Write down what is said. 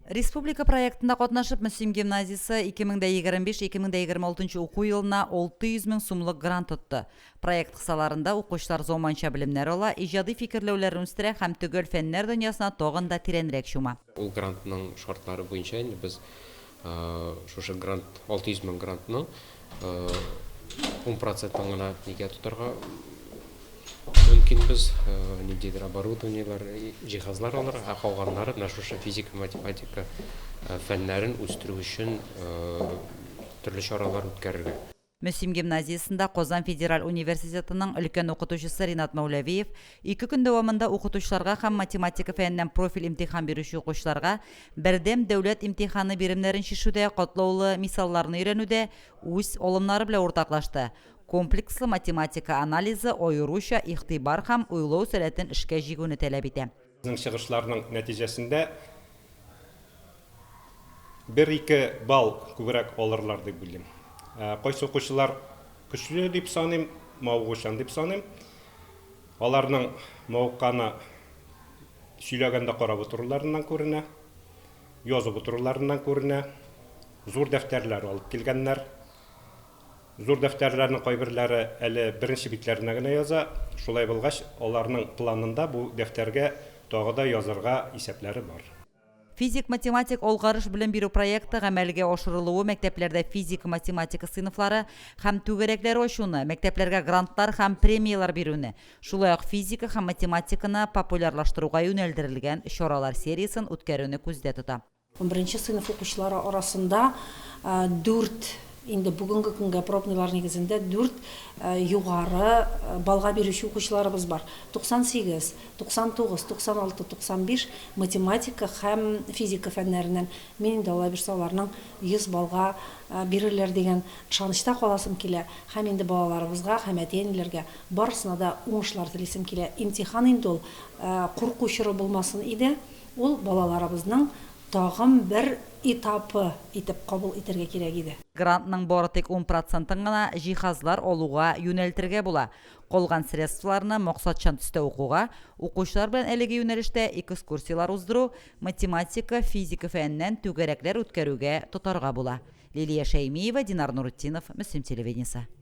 Республика проектында катнашып, Мөслим гимназиясе 2025-2026 нчы уку елына 600 мең сумлык грант тотты. Проект кысаларында укучылар заманча белемнәр ала, иҗади фикерләүләрен үстерә һәм төгәл фәннәр дөньясына тагын да тирәнрәк чума. Ул грантның шартлары буенча инде без шушы грант, 600 мең грантның ун процентын гына нигә тотарга мөмкин без, ниндидер оборудованиеләр, җиһазлар алырга, ә калганнары менә шушы физика, математика фәннәрен үстерү өчен төрле чаралар үткәрергә. Мөслим гимназиясендә Казан федераль университетының өлкән укытучысы Ринат Мәүләвиев Ике көн дәвамында укытучыларга һәм математика фәненнән профиль имтихан бирүче укучыларга Бердәм дәүләт имтиханы биремнәрен чишүдә катлаулы мисалларны өйрәнүдә үз алымнары белән уртаклашты, комплекслы математика анализы аеруча игътибар һәм уйлау сәләтен эшкә җигүне таләп итә. Безнең чыгышларның нәтиҗәсендә Бер-ике балл күбрәк алырлар дип уйлыйм. Кайсы укучылар көчле дип саныйм, мавыгучан дип саныйм. Аларның мавыкканы сөйләгәндә карап утыруларыннан күренә, язып утыруларыннан күренә. Зур дәфтәрләр алып килгәннәр. Зур дәфтәрләрнең кайберләре әле беренче битләренә генә яза. Шулай булгач, аларның планында бу дәфтәргә тагы да язырга исәпләре бар. Физик-математик алгарыш белем бирү проекты гамәлгә ашырылуы мәктәпләрдә физика-математика сыйныфлары һәм түгәрәкләре ачуны, мәктәпләргә грантлар һәм премияләр бирүне, шулай ук физика һәм математиканы популярлаштыруга юнәлдерелгән чаралар сериясен үткәрүне күздә тота. Унберенче сыйныф укучылары арасында дүрт, инде бүгенге көнгә пробныйлар нигезендә дүрт югары баллга бирүче укучыларыбыз бар, 98, 99, 96, 95, математика һәм физика фәннәреннән. Мин инде алай булса аларның 100 баллга бирерләр дигән ышанычта каласым килә һәм инде балаларыбызга һәм әти-әниләргә барысына да уңышлар телисем килә. Имтихан инде ул курку чоры булмасын иде, ул балаларыбызның тагын бер этапы итеп кабул итәргә кирәк иде. Грантның бары тик ун процентын гына җиһазлар алуга юнәлтергә була. Калган средстволарны максатчан төстә укуга, укучылар белән әлеге юнәлештә экскурсияләр уздыру, математика, физика фәненнән түгәрәкләр үткәрүгә тотарга була. Лилия Шәймиева, Динар Нурытдинов, Мөслим телевидениесе.